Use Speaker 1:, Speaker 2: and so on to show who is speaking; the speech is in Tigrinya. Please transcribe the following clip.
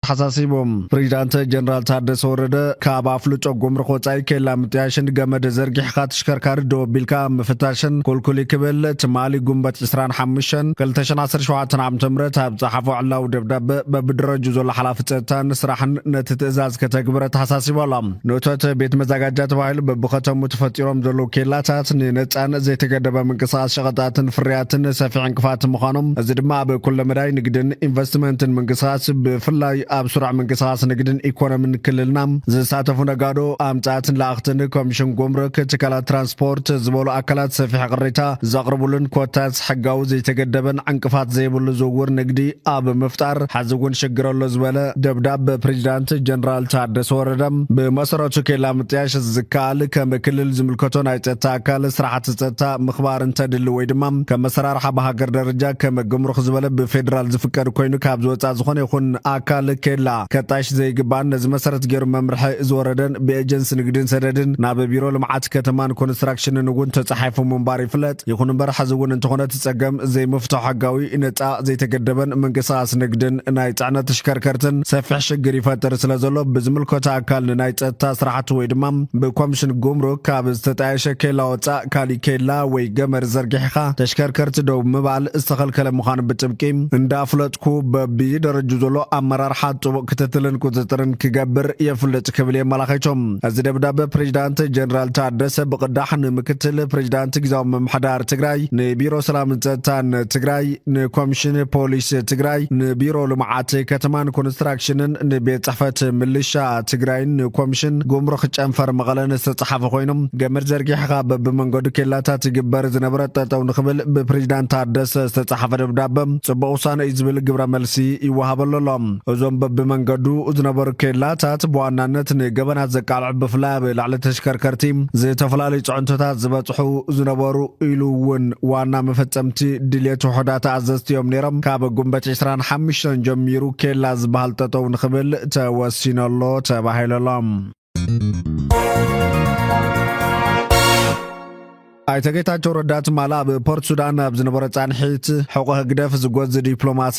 Speaker 1: ተሓሳሲቡ። ፕሬዚዳንት ጀነራል ታደሰ ወረደ ካብ ኣፍልጦ ጉምሩክ ወፃኢ ኬላ ምጥያሽን ገመድ ዘርጊሕኻ ተሽከርካሪ ደው ኣቢልካ ኣብ ምፍታሽን ኩልኩሊ ክብል ትማሊ ጉንበት 25 2017 ዓ.ም ኣብ ፀሓፎ ዕላዊ ደብዳበ በብደረጁ ዘሎ ሓላፊ ፀጥታን ስራሕን ነቲ ትእዛዝ ከተግብር ኣተሓሳሲቡ ኣሎ። ኖተት ቤት መዛጋጃ ተባሂሉ በብኸተሙ ተፈጢሮም ዘለዉ ኬላታት ንነፃን ዘይተገደበ ምንቅስቓስ ሸቐጣትን ፍርያትን ሰፊሕ ዕንቅፋት ምዃኖም እዚ ድማ ኣብ ኩለ መዳይ ንግድን ኢንቨስትመንትን ምንቅስቓስ ብፍላይ ኣብ ስሩዕ ምንቅስቓስ ንግድን ኢኮኖምን ክልልና ዝሳተፉ ነጋዶ ኣምፃእትን ለኣኽትን ኮሚሽን ጉምሩክ ትካላት ትራንስፖርት ዝበሉ ኣካላት ሰፊሕ ቅሬታ ዘቕርቡሉን ኮታ ሕጋዊ ዘይተገደበን ዕንቅፋት ዘይብሉ ዝውውር ንግዲ ኣብ ምፍጣር ሐዚ እውን ሽግር ኣሎ ዝበለ ደብዳብ ፕሬዚዳንት ጀነራል ታደሰ ወረደ ብመሰረቱ ኬላ ምጥያሽ ዝከኣል ከም ክልል ዝምልከቶ ናይ ፀጥታ ኣካል ስራሕቲ ፀጥታ ምኽባር እንተድሊ ወይ ድማ ከም መሰራርሓ ብሃገር ደረጃ ከም ግምሩኽ ዝበለ ብፌዴራል ዝፍቀድ ኮይኑ ካብ ዝወፃ ዝኾነ ይኹን ኣካል ኬላ ከጣይሽ ዘይግባእን ነዚ መሰረት ገይሩ መምርሒ ዝወረደን ብኤጀንሲ ንግድን ሰደድን ናብ ቢሮ ልምዓት ከተማን ኮንስትራክሽንን እውን ተፃሒፉ ምንባር ይፍለጥ። ይፍለጥ። ይኹን እምበር ሐዚ እውን እንተኾነ እቲ ፀገም ዘይምፍቶ ሐጋዊ፣ ነፃ፣ ዘይተገደበን ምንቅስቓስ ንግድን ናይ ፅዕነት ተሽከርከርትን ሰፊሕ ሽግር ይፈጥር ስለዘሎ ብዝምልከቶ ኣካል ንናይ ፀጥታ ስራሕቲ ወይ ድማ ብኮምሽን ጉምሩክ ካብ ዝተጣየሸ ኬላ ወፃእ ካሊእ ኬላ ወይ ገመድ ዘርጊሕኻ ተሽከርከርቲ ደው ምባል ዝተኸልከለ ምዃኑ ብጥብቂ እንዳፍለጥኩ በቢደረጅኡ ዘሎ ኣመራርሓ ጥቡቕ ክትትልን ቁፅፅርን ክገብር የፍልጥ ክብል የመላኺቱ። እዚ ደብዳበ ፕሬዚዳንት ጀነራል ታደሰ ብቕዳሕ ንምክትል ፕሬዚዳንት ግዛዊ ምምሕዳር ትግራይ፣ ንቢሮ ሰላምን ጸጥታን ትግራይ፣ ንኮሚሽን ፖሊስ ትግራይ፣ ንቢሮ ልምዓት ከተማን ኮንስትራክሽንን፣ ንቤት ጽሕፈት ምልሻ ትግራይን ንኮሚሽን ጉምሩክ ጨንፈር መቐለን ዝተጻሓፈ ኮይኑ ገመድ ዘርጊሕኻ በብመንገዱ ኬላታት ይግበር ዝነበረ ጠጠው ንክብል ብፕሬዚዳንት ታደሰ ዝተጻሓፈ ደብዳበ ጽቡቕ ውሳነ እዩ ዝብል ግብረ መልሲ ይወሃበሉ ኣሎ። እዞም በብመንገዱ ዝነበሩ ኬላታት ብዋናነት ንገበናት ዘቃልዕ ብፍላይ ኣብ ላዕሊ ተሽከርከርቲ ዝተፈላለዩ ፅዕንቶታት ዝበፅሑ ዝነበሩ ኢሉ እውን ዋና መፈፀምቲ ድልየት ውሑዳት ኣዘዝቲ እዮም ነይሮም ካብ ጉንበት 25 ጀሚሩ ኬላ ዝበሃል ጠጠው ንክብል ተወሲነሎ ተባሂለሎም ኣይተ ጌታቸው ረዳ ትማል ኣብ ፖርት ሱዳን ኣብ ዝነበረ ፃንሒት ሕቆ ህግደፍ ዝጎዝ ዲፕሎማሲ